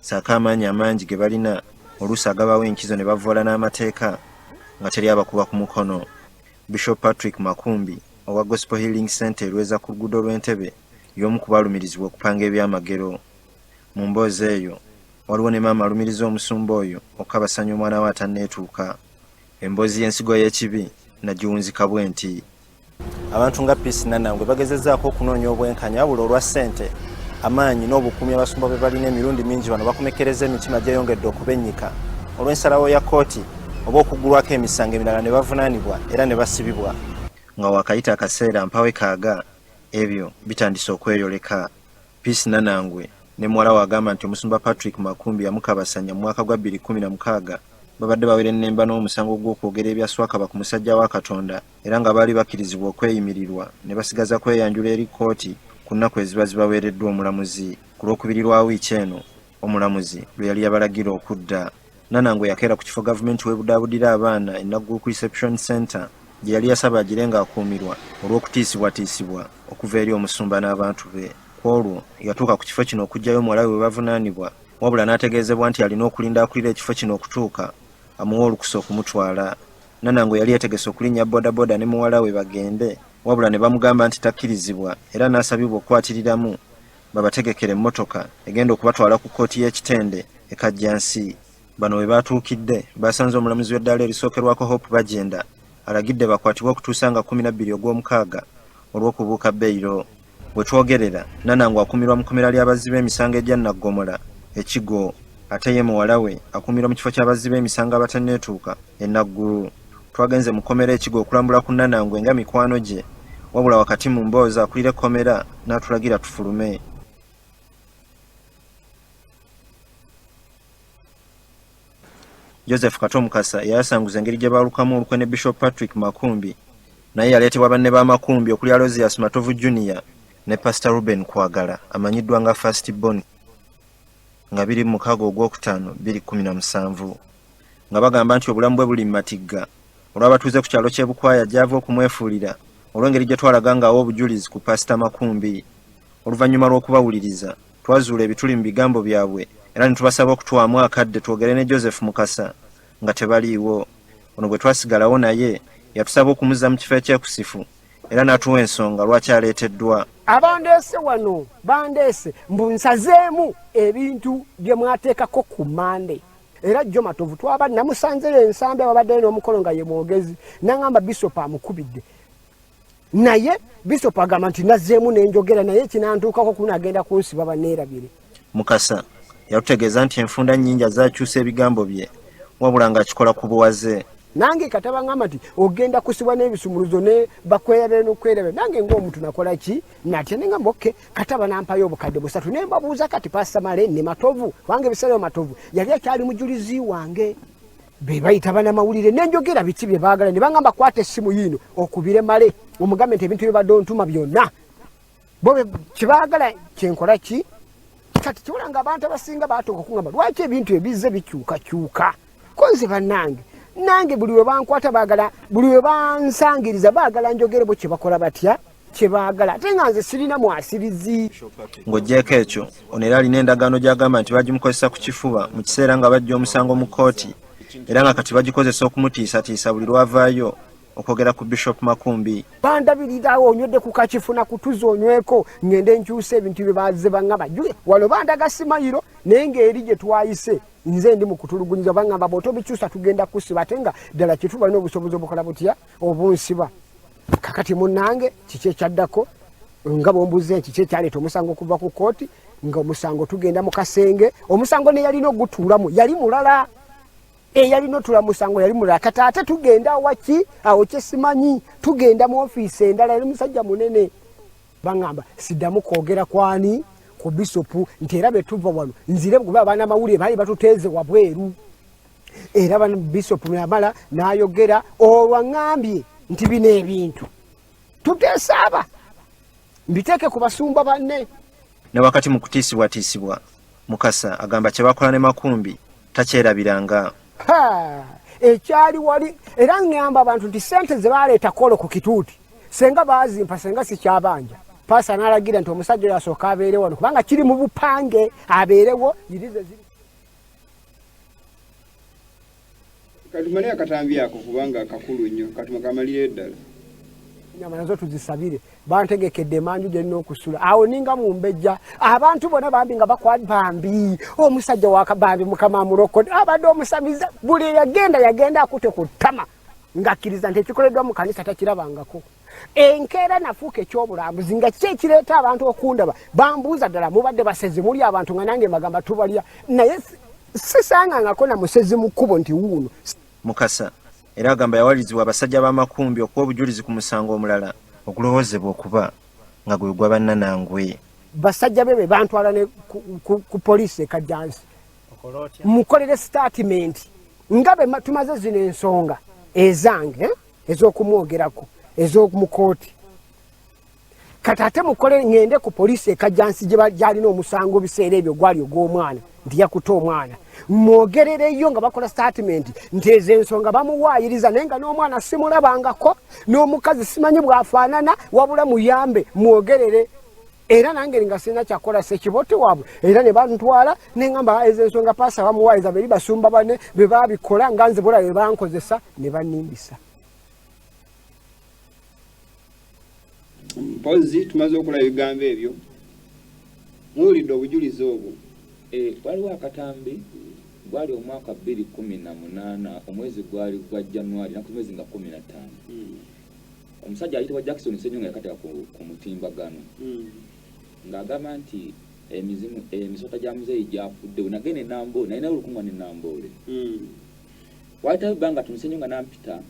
saako amaanyi amangi ge balina oluusi agabawo enkizo ne bavvoola n'amateeka nga teri abakuba ku mukono. Bishop Patrick Makumbi owa Gospel Healing Centre e Lweza ku luguudo lw'e Ntebe y'omu ku balumirizibwa okupanga ebyamagero. Mu mboozi eyo waliwo ne maama alumiriza omusumba oyo okukabasanya omwana we atanneetuuka. Emboozi y'ensigo y'ekibi nagiwunzika bwenti. abantu nga peace nanangwe bagezezaako okunoonya obwenkanya wabula olwa ssente amaanyi n'obukuumi abasumba bwe balina emirundi mingi bano bakomekereza emitima gyeyongedde okubennyika olw'ensalawo ya kkooti oba okuggulwako emisango emirala ne bavunaanibwa era ne basibibwa nga wakayita akaseera mpawe kaaga ebyo bitandise okweyoleka peace nanangwe ne muwala we agamba nti omusumba patrick makumbi yamukabasanya mu mwaka gwa 216 babadde bawerennemba n'omusango gw'okwogera ebya swakaba ku musajja wa katonda era nga baali bakkirizibwa okweyimirirwa ne basigaza kweyanjula eri kkooti ku nnaku eziba zibaweereddwa omulamuzi. Ku Lwokubiri lwa wiiki eno, omulamuzi lwe yali yabalagira okudda, Nanango yakeera ku kifo Gavumenti w'ebudaabudira abaana e Naggulukuku Reception Centre gye yali yasaba agire ng'akuumirwa olw'okutiisibwatiisibwa okuva eri omusumba n'abantu be. Ku olwo, yatuuka ku kifo kino okuggyayo muwala we bwe bavunaanibwa wabula n'ategeezebwa nti alina okulinda akulira ekifo kino okutuuka amuwa olukusa okumutwala. Nanango yali yategese okulinnya bodaboda ne muwala we bagende wabula ne bamugamba nti takkirizibwa era n'asabibwa okukwatirilamu babategekere emmotoka egenda okubatwala ku kkooti y'e Kitende e Kajjansi. Bano we baatuukidde baasanze omulamuzi w'eddaala erisookerwako Hope Bagyenda alagidde bakwatibwe okutuusa nga kkumi na bbiri Ogwomukaaga olw'okubuuka beyiro. Wetwogerera, Nanangu akumirwa mu komera lya bazzi b'emisango egya Naggomola e Kigo ate ye muwala we akumirwa mu kifo kya bazzi b'emisango abatanneetuuka e Naggulu. Twagenze mu kkomera e Kigo okulambula ku Nanangwe nga mikwano gye wabula wakati mu mboozi akulira ekkomera n'atulagira tufulume. Joseph Kato Mukasa eyayasanguza engeri gye baalukamu olukwe ne Bishop Patrick Makumbi naye yaleetebwa banne ba Makumbi okuli Alozias Matovu Junior ne Pastor Ruben Kwagala amanyiddwa nga First Born nga biri mu mukago ogwokutaano biri kumi na musanvu nga bagamba nti obulamu bwe buli mu matigga olw'abatuuze ku kyalo ky'e Bukwaya gy'ava okumwefuulira olw'engeri gye twalaga ng'awa obujulizi ku Pasita Makumbi oluvannyuma lw'okubawuliriza Twazuula ebituli mu bigambo byabwe era ne tubasaba okutuwaamu akadde twogere ne Joseph Mukasa nga tebaliiwo. Ono bwe twasigalawo naye, yatusaba okumuzza mu kifo ekyekusifu era n'atuwa ensonga lwaki aleeteddwa. Abandeese wano bandeese mbu nsazeemu ebintu bye mwateekako ku Mmande era jjo Matovu twaba namusanzeyo e Nsambya wabaddeyo n'omukolo nga ye mwogezi n'ang'amba Bisopu amukubidde. naye bishop agamba nti nazzeemu nenjogera naye kinantuukako kuna agenda kunsiba baneerabire mukasa yatutegeeza nti enfunda nnyingi azakyusa ebigambo bye wabula ng'akikola ku buwaze nange kataba ngamba nti ogenda kusibwa n'ebisumuluzo ne bakweyabere n'okweyabere nange ng'omuntu nakola ki natya ne ngamba oke kataba nampayo obukadde busatu ne mbabuuza kati pasamale ne matovu wange ebiseera matovu yali akyali mujulizi wange bebayita banamawulire nenjogera biki byebagala nebangamba kwata essimu yiino okubire male omugambe nti ebintu byebadde ontuma byonna bo kyebagala kyenkola ki kati kiwula nga abantu abasinga batuuka okungamba lwaki ebintu ebizze bikyukakyuka konze banange nange buli webankwata bagala buli webansangiriza bagala njogerebo kyebakola batya kyebaagala ate nga nze sirina mwasirizi ng'ogyeko ekyo ono era alina endagaano gy'agamba nti bagimukozesa ku kifuba mu kiseera nga bajja omusango mu kkooti era nga kati bagikozesa okumutiisatiisa buli lwavaayo okwogera ku bishop makumbi bandabirirawo onywedde ku kakifuna kutuza onyweko ngende nkyusa ebintu bye baze bangamba jule walo bandaga simayiro naye ngaeri gye twayise nze ndi mukutulugunyiza bangamba bwotobikyusa tugenda kusiba ate nga ddala kitubalina obusobozi obukola butya obunsiba kakati munange kiki ekyaddako nga bwombuza nti kiki ekyaleeta omusango okuva ku kooti nga omusango tugenda mu kasenge omusango neyalina ogutuulamu yali mulala eyalina otula musango yali mulala kati ate tugenda awaki awo kyesimanyi tugenda mu ofiisi endala yali musajja munene baŋamba siddamu kwogera kwani ku bisopu nti era betuva wano nzire kuba abaana amawulire baali batuteeze wabweru era bano bishop namala nayogera olwaŋambye nti bino ebintu tutesaaba mbiteeke ku basumba banne ne wakati mu kutiisibwatiisibwa mukasa agamba kyebakola ne makumbi takyerabiranga ekyali wali era ŋŋamba abantu nti ssente ze baleeta kolo ku kituuti senga baazimpa senga sikyabanja paasa n'alagira nti omusajja oyo asooka abeere wano kubanga kiri mu bupange abeerewo yirize ziri katumale akatambi ako kubanga kakulu nnyo katuma kamalire ddala nyama nazo tuzisabire bantegekedde emanju gye nina okusula awo ninga mumbejja abantu bona bambi nga bakwali bambi omusajja wakabambi mukama amulokode abadde omusamiza buli eyagenda yagenda akute ku ttama ng'akkiriza nti ekikoleddwa mu kanisa takirabangako enkeera nafuuka ekyobulambuzi nga kiki ekireeta abantu okundaba bambuuza ddala mubadde basezi muli abantu nga nange magamba tubalya naye sisangangako na musezi mu kkubo nti wuuno mukasa era agamba yawalirizibwa abasajja b'amakumbi okuwa obujulizi ku musango omulala ogulowoozebwa okuba nga gwe gwa bannanangwe basajja be be bantwala ne ku poliisi ekajjansi mukolere sitaatimenti nga be tumaze zino ensonga ezange eh? ezokumwogerako ezomukooti kati ate mukole ngende ku poliisi ekajjansi gyalina omusango biseera ebyo gwali ogw'omwana nti yakuta omwana mwogerereyo nga bakola sitatimenti nti ezo ensonga bamuwaayiriza naye nga n'omwana simulabangako n'omukazi simanyi bwafaanana wabula muyambe mwogerere era nange nga sirina kyakola sekiboti waabwe era ne bantwala nengamba ezo ensonga paasa bamuwaayiza beri basumba bane be babikola nga nze bula be bankozesa ne banimbisa mpozi tumaze okola ebigambo ebyo muwulidde obujulizi obwo eh, waliwo akatambi gwali omwaka bbiri kumi na munaana omwezi gwali gwa januari naku mwezi nga kumi na ttaano hmm. omusajja ayitibwa Jackson Ssenyonga yakateka ku, ku mutimbagano mm. ng'agamba nti emizimu emisota gya muzeeyi gyafuddewo nagenda enamboole naye naye olukunga ne namboole mm. wayitayo ebbanga tuni Ssenyonga nampita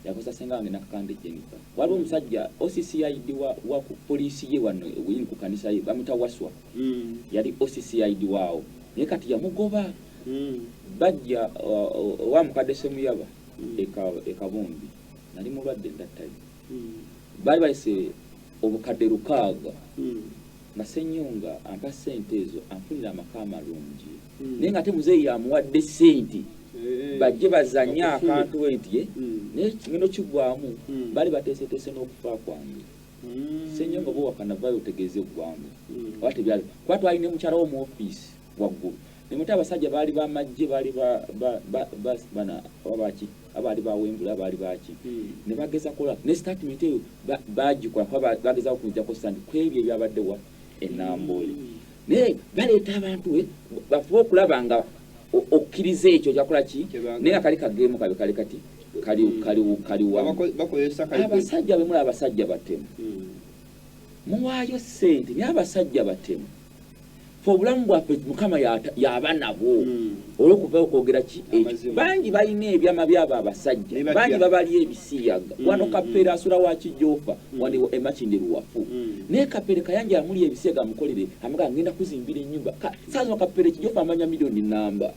yakozesa senga wange nakakande Jennifer waliwo mm. omusajja OCCID wa, wa ku poliisi ye wano weyini ku kanisa ye bamuta waswa mm. yali OCCID waawo naye kati yamugoba mm. bajja owa uh, uh, mukadde semuyaba mm. ekabumbi e nali mulwadde that time hmm. baali bayise obukadde lukaaga hmm. nga senyonga ampa sente ezo anfunira amaka amalungi hmm. naye nga ate muzeeyi yamuwadde sente eh, bajje bazanye akantu enti eh? naye kigendo kigwamu bali bateeseteese n'okufa kwange senyonga oba wakanavayo otegeeze eggwanga oba tebyali kuba twali ne mukyala wo mu ofiisi waggulu ne muti abasajja baali ba majje baali bana ababaki abaali bawembula abaali baki hmm. ne bageza kola ne statement eyo bagikola kuba bageza okujjako sandi ku ebyo ebyabadde wa enamboole hmm. naye baleeta abantu eh, bafuba okulaba nga okkiriza ekyo kyakola ki naye nga kali kageemu kabe kali kati kaliwabasajja hmm. bemula abasajja batemu muwaayo sente naye abasajja batemu fe obulamu bwaffe mukama yaba nabwo hmm. olwokuva okwogera ki bangi balina ebyama byabo abasajja bangi babali ebisiyaga hmm, wano hmm, kapere asula wakijofa waliwo emakindi luwafu naye kapere kayanja amuli ebisiyaga amukolere amaga ngenda kuzimbira enyumba saza kapere kijofa amanya milioni namba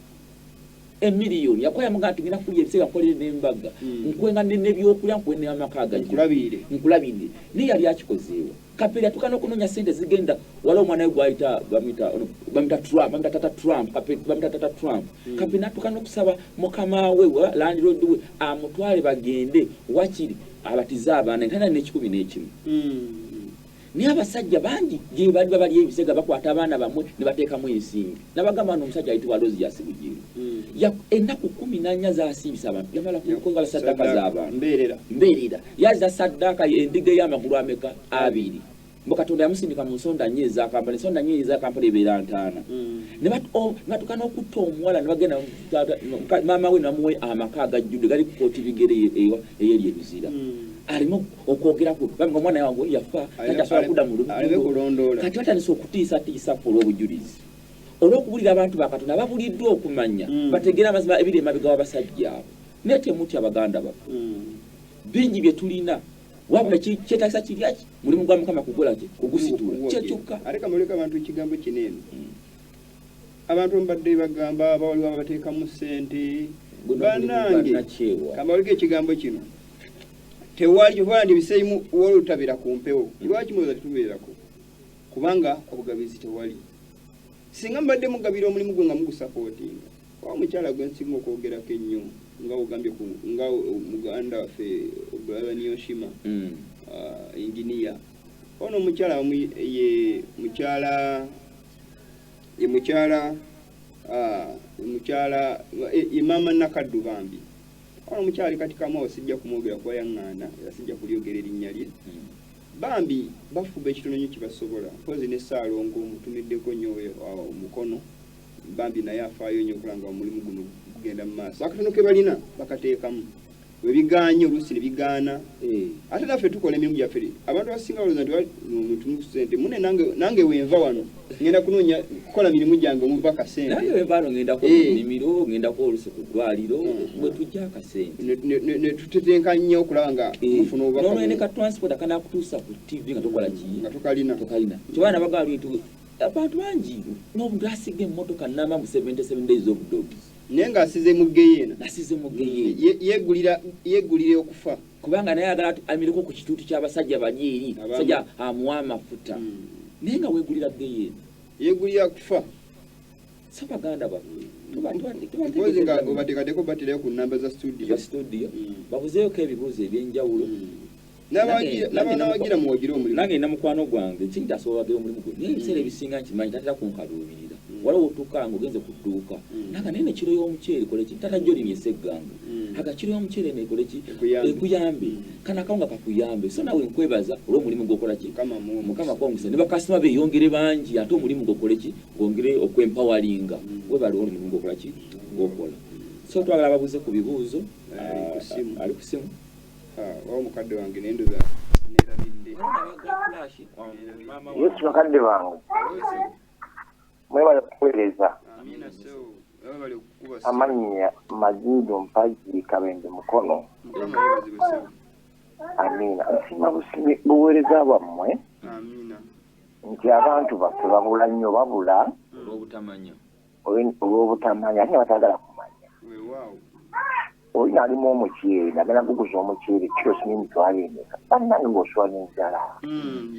emiliyoni yakuba yamugaa nti ngenda kulya ebiseera nkolere n'embaga nkwenga nebyokulya nkwe n'amaka agajnkulabirire naye yali akikozeewa Kapere atuka no kunonya sente zigenda wala omwana we gwaita bamita bamita Trump bamita tata Trump kapere bamita tata Trump mm. kapere natuka no kusaba mukama we wa landlord we amutwale bagende wakiri abatiza abana ntana ne 10 ne 1 mm. ni abasajja bangi je bali babali ebisega bakwata abana bamwe ne bateka mu ensingi nabagamba no musajja aitwa Rose yasibujiri mm. ya enaku 10 nanya za asibisa abantu yamala kukonga sadaka za abantu mberera mberera Yazza saddaaka y'endiga ey'amagulu ameka? Abiri. Mbu Katonda yamusindika mu nsonda nnya eza Kampala, ensonda nnya eza Kampala ebeera ntaana. Mm. Ne oh, batuuka n'okutta omuwala ne bagenda maama we namuwe amaka agajjudde gali ku kooti bigere eyeri ebizira. Mm. Aleme okwogera ku bambi omwana wange yafa kati asobola kudda mu lulondoola. Kati batandise okutiisatiisa ku olw'obujulizi. Olw'okubulira abantu ba Katonda babuliddwa okumanya mm. bategeera amazima ebiri emabega w'abasajja abo. Naye temutya baganda baffe. Bingi bye tulina wabula kyetaagisa kiryaki mulimu gwa mukama kukola ki kugusitula kyekyokka ate kamuleka abantu ekigambo kino eno hmm. abantu mbadde bagamba abawaliwo abateekamu ssente banange kamawulika ekigambo kino tewali kyovandi biseimu wali otabera ku mpewo hmm. lwaki muloza tetubeerako kubanga obugabizi tewali singa mbadde mugabira omulimu gwo nga mugusapootinga Wa mukyala gwe nsinga okwogerako ennyo nga ogambye nga muganda waffe brother Niyoshima mm. uh, engineer ono omukyala ye mukyala ye mukyala uh, mukyala ye maama Nakaddu bambi ono omukyala ali kati kamao sijja kumwogera kuba yaŋŋaana era sijja kulyogera erinnya lye mm. bambi bafuba ekitono nnyo kye basobola mpozi ne Ssaalongo mutumiddeko nnyo uh, omukono bambi naye afaayo nyo okulanga omulimu guno gugenda mu maaso akatono ke balina bakateekamu webigaanye oluusi ne bigaana eh. ate naffe tukola emirimu gyaffe abantu abasinga balooza nti omuntu mukusente mune nange wenva wano ngenda kunoonya kukola mirimu gyange omuva kasentebaano ngendako mumimiro eh. ngendako oluusi ku ddwaliro mm. wetujja akasente netutetenka nnyo okulaba nga eh. mufuna obubaka nolwene ka transport akanakutuusa ku tv nga tokola ki nga tokalina tokalina kyobaana bagaa lwetu Abantu bangi n'obugaasi g'emmotoka nnamba mu 77 days of dogs. Naye ng'asize mu ggeyeena. Asize mu ggeyeena. Ye- Yeegulira yeegulira okufa. Kubanga naye ayagala atu- amireko ku kituuti ky'abasajja bali eri. Abaama. Sajja amuwa amafuta. Mm. Naye nga weegulira ggeyeena. Yeegulira kufa. So baganda baffe. tuba- tuba- tuba- Mpozzi nga tuba- obateekateeka obaterayo ku nnamba za studio. Studio. Mm. Babuzeeko ebibuuzo eby'enjawulo. Mm. nabanawagira muwagire omulimu nange nina mukwano gwange kinti asobola wagira omulimu gwe naye ebiseera mm. ebisinga nkimanyi tatera kunkaluubirira mm. waliwo otuuka nga ogenze ku dduuka mm. naga naye nekiro y'omuceere koleki tata joli nyesa eggambo aga kiro y'omuceere nekoleki ekuyambe kana akawunga kakuyambe so nawe nkwebaza olw'omulimu gwokolaki mukama kwongesa ne bakasitoma beyongere bangi ate omulimu gwokoleki gwongere okwempawalinga webali omulimu gwokolaki gwokola so twagala ababuuze ku bibuuzo ali ku simu Wawo mukadde wange naye ndoza nerabidde. Yesu bakadde bange mwebale kuweereza amannya maziido mpagi kabende mukono amiina nsiima busibi buweereza bwammwe nti abantu baffe babula nnyo babula olw'obutamanya ate nga batagala kumanya olina alimu omuceeri nagala guguza omuceeri kilos nemitwalo emeka bannange ngaosula nenjala mm,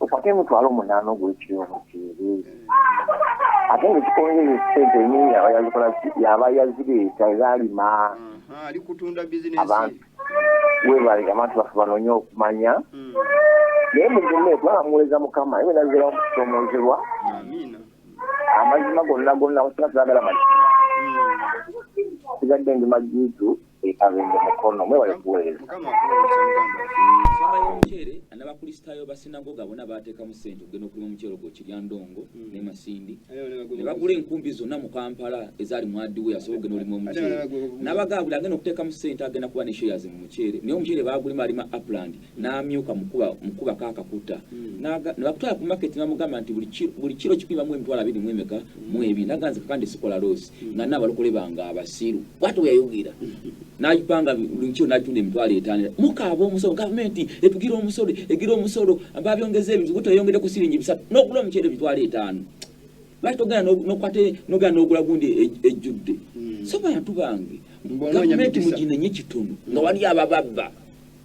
okwate emitwalo omunaana ogulekiri omuceeri eh. ate ngaekikongere sente nyingi abayazikola yaba yazireeta ezalima abantu webale abantu bafe banonye okumanya mm. naye mugume kubanga muwuleza mukama ebinazirawo mukusomozebwa amazima gonna gonna kusina sagala mali sigadde ndi majitu ekabende mukono mwebale kuweereza omuceere nabakristaayo basinagoga bona bateekamu sente okugenda okulima omuceere ogwo kiryandongo hmm. ne masindi ne bagula enkumbi zonna mu kampala ezaali mwadiwe asobola okugenda olima omuceere nabagaabuli agenda okuteekamu sente agenda kuba ne shares mu muceere naye omuceere bagulima alima upland n'amyuka mukubako akakuta hmm. nebakutwala ku market namugamba nti buli kiro kikuimamu emitwalo abiri mu emeka hmm. mu ebiri naga nze kakandi sikola loosi hmm. nga naabalokole bange abasiru bwati weyayogera nagipanga buli kiro natunda emitwalo etaano mukaaba omusolo gavumenti etugira omusolo egira omusolo babyongeza ebintu guteyongere ku siringi bisatu n'okula omuceere emitwalo etaano lwaki togenda nokwate nogenda n'ogula gundi e, ejjudde so bantu bange gavumenti muginenye kitono nga wali abababba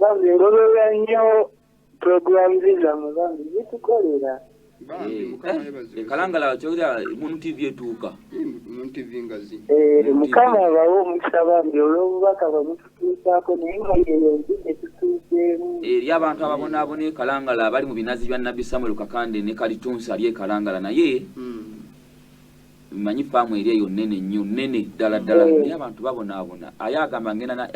bambi ngoberera nnyo program zizamwe bambi zitukolera ekalangala kyogera mun tv etuuka mun tv ngazi mukama abawo omukisa bambi olw'obubaka bamututuusaako naye nga yeyo nti etutuuseemu eri abantu ababonaabona ekalangala abali mu binazi bya nabbi samuel kakande ne kalitunsi ali ekalangala naye hmm. mmanyi faamu eri eyo nnene nnyo nnene ddala ddala mm. naye abantu babonaabona aye agamba ngenda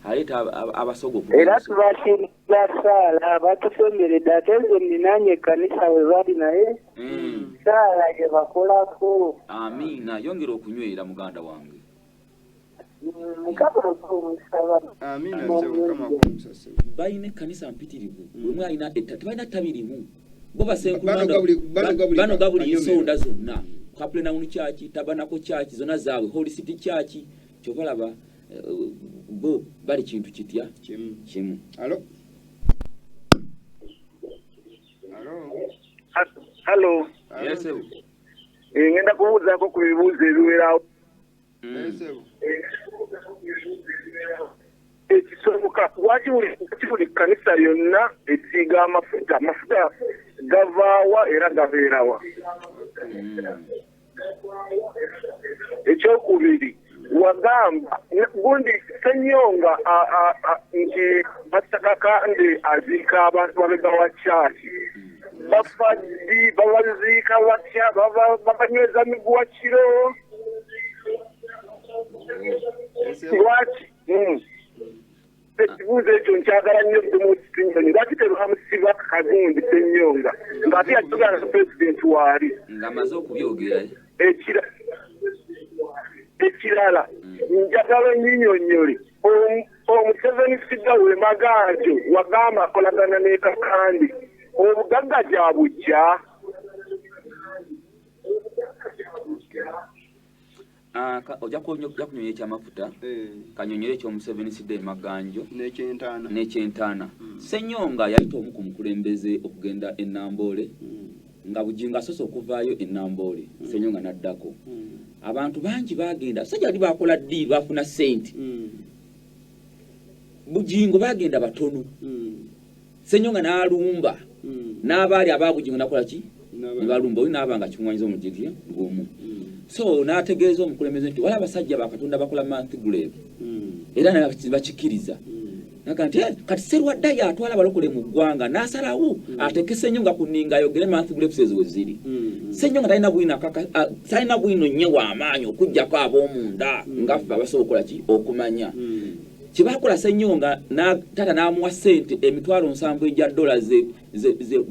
aleeta abasogo era tubakiriza saala batusemberedde ate nze ninaanye ekkanisa we bali naye mm. saala gye bakolako amiina yongera okunywera muganda wange balina ekkanisa mpitirivu mm. wemu alina etta tebalina ttabi limu bo basenkulbanoga buli ensonda zonna kaplenawunu kyaki tabanako kyaki zonna zaabwe holy city kyaki kyobalaba eh, bo bali kintu kitya kimu hallo eh, ngenda kubuuzaako ku bibuuzo ebiwerawo ekisoboka lwaki buli kkanisa yonna esiiga amafuta amafuta gavaawa era gabeerawa ekyokubiri wagamba gundi senyonga nti batakakande aziika abantu babega wa kyaki bafaddi babaziika batya babanyweza miguwa kiro lwaki hmm. ekibuuzo ekyo nkyagala nnyo bdmukitinyoni lwaki tebamusiba kagundi senyonga ngaate yajogana na pulezidenti waali ngaamaze okubyogera ekira ekirala hmm. njagala onyinyonyole omuseveni sida we magaajo wagamba akolagana nekakandi obugagga gyabujja Ah, ojja kunyonya ekyamafuta eh. kanyonyera ekyomuseveni sida emaganjo nekyentaana hmm. senyonga yayita omu ku mukulembeze okugenda enamboole hmm. nga bujingo asoose okuvaayo enamboole hmm. senyonga naddako abantu bangi bagenda basajja bali bakola diiru bafuna sente bujingo bagenda batono Senyonga n'alumba n'abaali abaabugingo nakola ki ne balumba oyo n'aba nga kimuwanyiza omujigi gumu so n'ategeeza omukulembeze nti wali abasajja ba katonda bakola manthiguleevu era bakikkiriza naga nti eh, kati serwadda yatwala abalokole mu ggwanga n'asalawo ateeke senyonga ku ninga ayogere manthiguleevu ezo we ziri senyonga talina bwino talina bwino nnyo w'amaanyi okuggyako ab'omunda ngaffe abasobola okukola ki okumanya kyebakola Ssenyonga taata n'amuwa ssente emitwalo nsanvu egya dola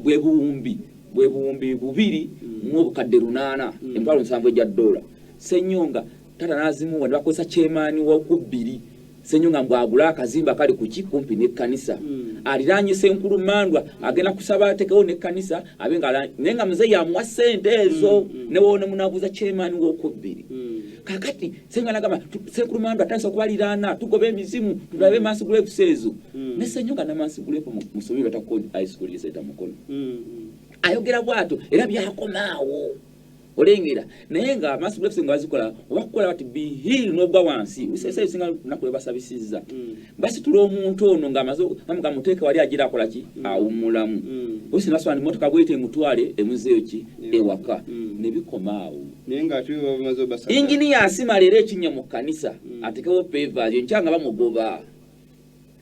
bwe buwumbi bwe buwumbi bubiri mu obukadde lunaana mm. emitwalo nsanvu egya dola Ssenyonga taata n'azimuwa ne bakozesa kyemaani w'okubbiri Ssenyonga mbu agule akazimba kali ku ki kumpi n'ekkanisa mm. aliraanye Ssenkulu Mandwa agenda kusaba atekewo n'ekkanisa abe nga naye nga muzeeyi amuwa ssente ezo mm, ne woona munabuuza kyemaani w'okubbiri kakati Senga nagamba sekulu mandu atasa okubaliraana tugoba emizimu tulabe mass grave sezo mm. ne senyoka na mass grave musobi bata ko high school yese ta mukono mm, mm. ayogera bwato era byakomaawo olengera naye nga mass grave senga azikola wakola bati be heal no gwa wansi usese mm. singa nakule basabisiza mm. basi tuli omuntu ono nga amazo namuka muteke wali ajira akola ki mm. awumulamu mm. usina swani motoka bwete mutwale emuzeyo ki yeah. ewaka mm. ne bikomaawo inginiya asima leero ekinnya mu kkanisa hmm. atekewo pevaazi enkya nga bamugoba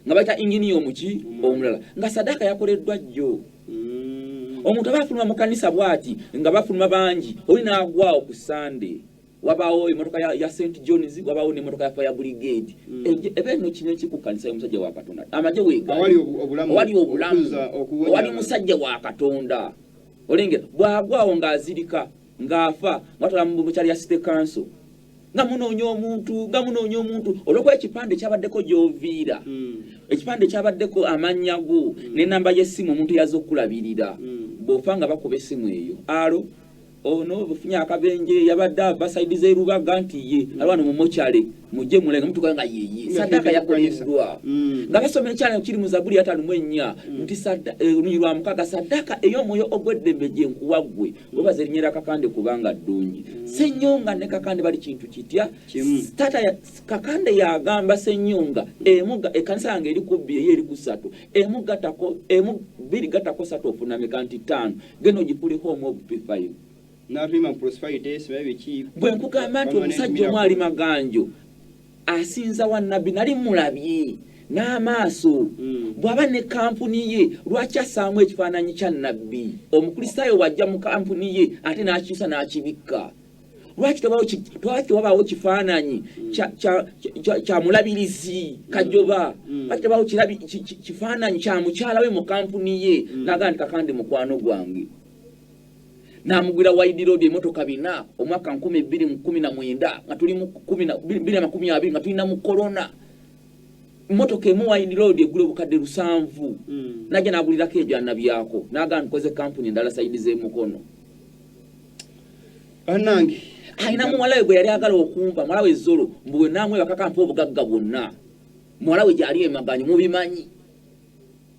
nga bayita inginiya omuki hmm. omulala nga sadaaka yakoleddwa jjo hmm. omuntu aba afuluma mu kkanisa bwati nga bafuluma bangi oli naagwawo ku sande wabaawo emotoka ya st johns wabaawo nemotoka ya fire brigade ebe no kino kikukkanisa omusajja wa katonda amagye wegaowali obulamu owali musajja wa katonda olengera bwagwawo ng'azirika ng'afa mwatwala mu bukyali ya city council nga munoonya omuntu nga munoonya omuntu olwokuba ekipande kyabaddeko gyoviira hmm. ekipande kyabaddeko amannya go hmm. nenamba yesimu omuntu yaza okukulabirira hmm. bwofa nga bakuba esimu eyo alo ono ofunye akabenje yabadde ava saidi zerubaga nti ye alwana mumukyale mujje muleke mutuka nga yeye sadaka yakoleddwa mm. nga basoma ekyana kiri mu zabuli ataano mu ennya mm. nti eh, oluyi lwa mukaga sadaka ey'omwoyo ogw'eddembe gye nkuwa ggwe mm. webaza erinnya lya kakande kubanga ddungi senyonga ne kakande bali kintu kitya tata kakande yagamba senyonga emuga ekanisa yange eri ku bbiri eyo eri ku ssatu emu gatako emu bbiri gatako satu ofunamika nti ttaano genda ogipuleko omu obupi five bwe nkugamba nti omusajja omu ali maganjo asinza wa nabbi nali mulabye n'amaaso hmm. bw'aba ne kampuni ye lwaki asaamu ekifaananyi kya nabbi omukristaayo bw'ajja mu kampuni ye ate n'akiisa n'akibikka lwaki tewabaawo kifaananyi hmm. kya mulabirizi hmm. kajoba lwaki tebaawo kifaananyi kya mukyala we mu kampuni ye naga nti kakandi mukwano gwange n'amugwira wide road emotoka bina omwaka nkumi bbiri mu kumi na mwenda nga tuli mu kumi na bbiri amakumi abiri nga tulina mu corona motoka emu wide road egula obukadde lusanvu mm. najja nagulirako ebyana byako nagamba nkoze kampuni endala sayidi z'emukono banange alina muwala we gwe yali agala okumpa muwala we zolo mbu wenamwe bakakampa obugagga bwonna muwala we gyali emaganyi mubimanyi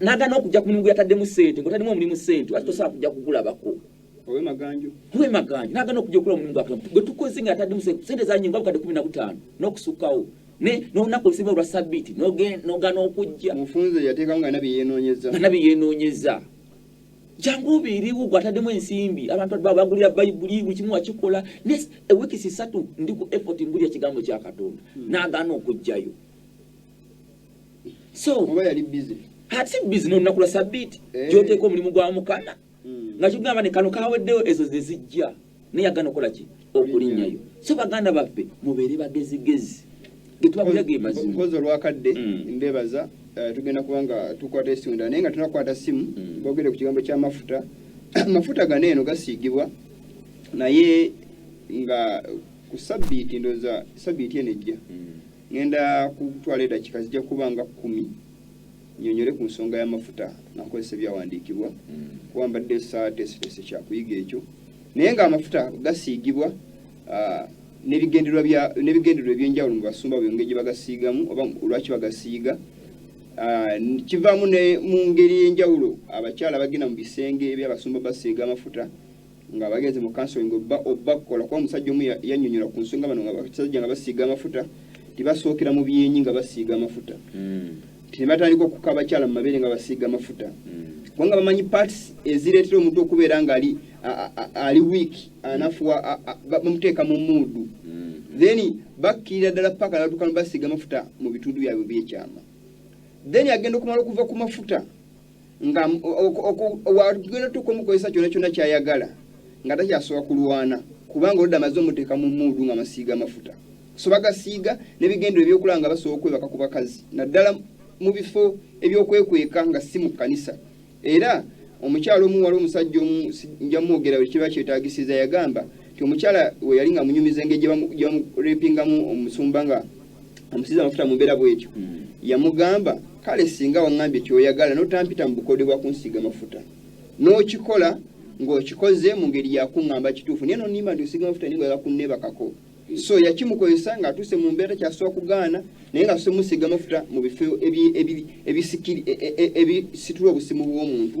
nagana okujja ku mulimu gweyataddemu sente ngotademu omulimu sente ati tosobola kujja kugulabako owemaganjo nagana okujja okula omulimu gwakulamu gwe tukoze nga yataddemu sente zanyi nga bukadde kumi na butaano n'okusukkawo nolunaku olusinga olwa sabiiti nogana okujja nabyeyenonyeza jangu obeerewo gwataddemu ensimbi abantu bagulira bayibuli buli kimu wakikola ne ewiiki sisatu ndi ku effort ngulira kigambo kya katonda hmm. nagana okujjayo so oba yali busy ati busy no nakula sabiti eh. joteko mulimu gwa mukama mm. nga kigamba ne kano kaweddeyo ezo zezijja naye agana okola ki okulinyayo so baganda baffe mubeere bagezigezi getwakulya ge mazima kozo lwakadde mm. mbebaza eh, tugenda kubanga tukwata esunda naye nga tunakwata simu mm. bogere ku kigambo kya mafuta mafuta gano eno gasiigibwa naye nga ku sabiti ndoza sabiti eno ejja mm. Ngenda kutwala edakika zijja kuba nga kumi nyonyole ku nsonga y'amafuta nga nkozesa ebyawandiikibwa mm. kuba mbadde saateeseteese kyakuyiga ekyo naye ng'amafuta gasiigibwa ah, n'ebigendererwa ebyenjawulo mu basumba byongeri gye bagasiigamu oba olwaki bagasiiga ah, kivaamu ne mu ngeri ey'enjawulo abakyala bagenda mu bisenge eby'abasumba basiiga amafuta nga bagenze mu counseling obba obba kukola kuba omusajja omu yanyonyola ku nsonga bano nga basajja nga basiiga amafuta tibasookera mu byenyi nga basiiga amafuta mm. tinebatandika okuka abakyala mu mabeere nga basiiga amafuta mm. kubanga bamanyi parts ezireetera omuntu okubeera nga ali ali week anafuwa bamuteeka mu muudu mm. then bakkirira ddala paka natuka nbasiiga amafuta mu bitundu byabwe byekyama then agenda okumala okuva ku mafuta nga wagenda otuuka omukozesa kyona kyona kyayagala nga takyasobola kulwana kubanga oludda amaze omuteeka mu muudu nga masiiga amafuta so bagasiiga nebigendero ebyokulaba nga basobola okwebaka ku bakazi naddala mu bifo ebyokwekweka nga si mu kkanisa era omukyala omu wali omusajja omu nja mwogera buli kiba kyetagisiza yagamba nti omukyala we yali nga munyumiza engeri gye bamurepingamu omusumba nga amusiza amafuta mu mbeera bw'etyo hmm. yamugamba kale singa waŋŋambye kyoyagala n'otampita mu bukode bwa kunsiiga amafuta n'okikola ng'okikoze mu ngeri yakuŋŋamba kituufu naye nonimba nti osiiga amafuta naye ngaoyagala kunneebakako so yakimukozesa ng'atuuse mu mbeera takyasobola kugaana naye nga atuuse musiiga amafuta mu bifo ebisitula e, e, e, obusimu bw'omuntu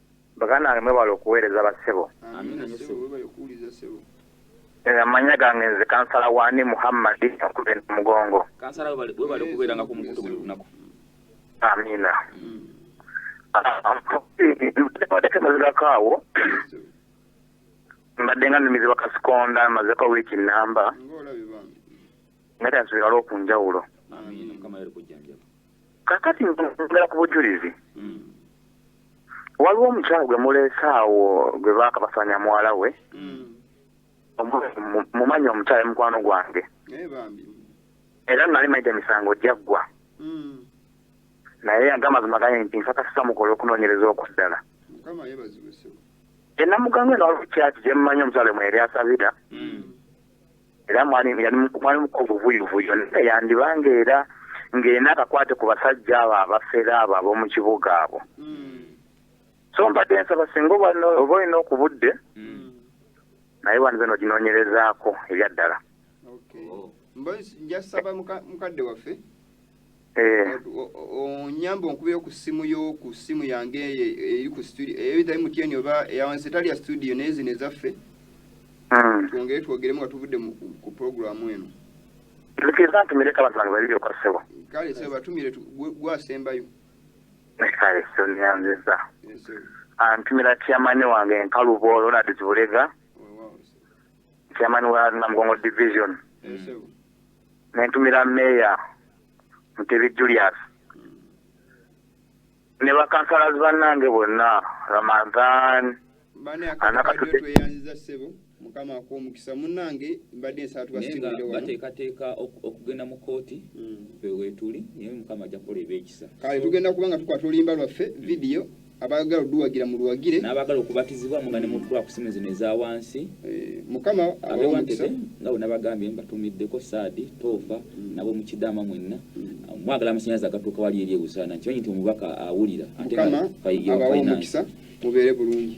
Baganange mwebale okuwereza ba ssebo. Amina nyo ssebo webale kuwuliza ssebo. Eh, amanya gange nze kansala wani muhammadi akube nomugongo kansala webale kubeera nga kumukutu buli lunaku amina tekemazirako awo mbadde nga numizibwa kasikonda mazeko wiiki namba nga tansubirala okunjawulo kakati nzongera ku bujulizi mm. waliwo omukyalo gwe muleese awo gwe baakabasanya muwala we mm. mumanyi omukyalo mukwano gwange eh, era nali maite emisango gyaggwa mm. naye yange amazima gaye nti nsakasisa mukola okunoonyereza okuddala enamuganga eno waliwo kyaki gyemumanyi omukyalo mwe eri asabira era mwali mwali muko buvuyuvuyo naye yandibanga era ng'ena akakwate ku basajja abo abafere abo ab'omu kibuga abo hmm. so mbadde nsaba singa oba olina okubudde hmm. naye wandize noginoonyerezaako ebyaddala oh. njasaba mukadde waffe Eh. onyambe onkubeyo ku ssimu yo ku ssimu yange eyo eri ku studio eitha eh, mtn oba eyawansi etali ya studio naye zino ezaffe hmm. twongere twogeremu nga tuvudde ku programu eno nzikiriza ntumire ka bantu bange babiri okwa ssebo kale sebo batumire gwasembayo kale sonyanziza antumira tiamani wange nkalubo ronald zibulega tiamani wa namugongo division nentumira meeya mutebi julius ne bakansalazi bannange bonna ramadhan anakatutweyanziza ssebo mukama akuomukisa munange mbadde nsaba tubateekateeka okugenda mu kooti mm. wetuli naye mukama ajja kukola ebyekisa kale tugenda kuba nga tukwata oluyimba lwaffe vidiyo abaagala oduwagira mu luwagire n'abaagala okubatizibwamu nga ne mu kulakusimu zino eza wansi eh, mukama abewantete nga bwe nabagambye mbatumiddeko saadi toofa mm. nabo mu kidaama mwenna mm. mwagala amasanyazi agatuuka wali eri ebusaana nkimanyi nti omubaka awulira mukama abawa omukisa mubeere bulungi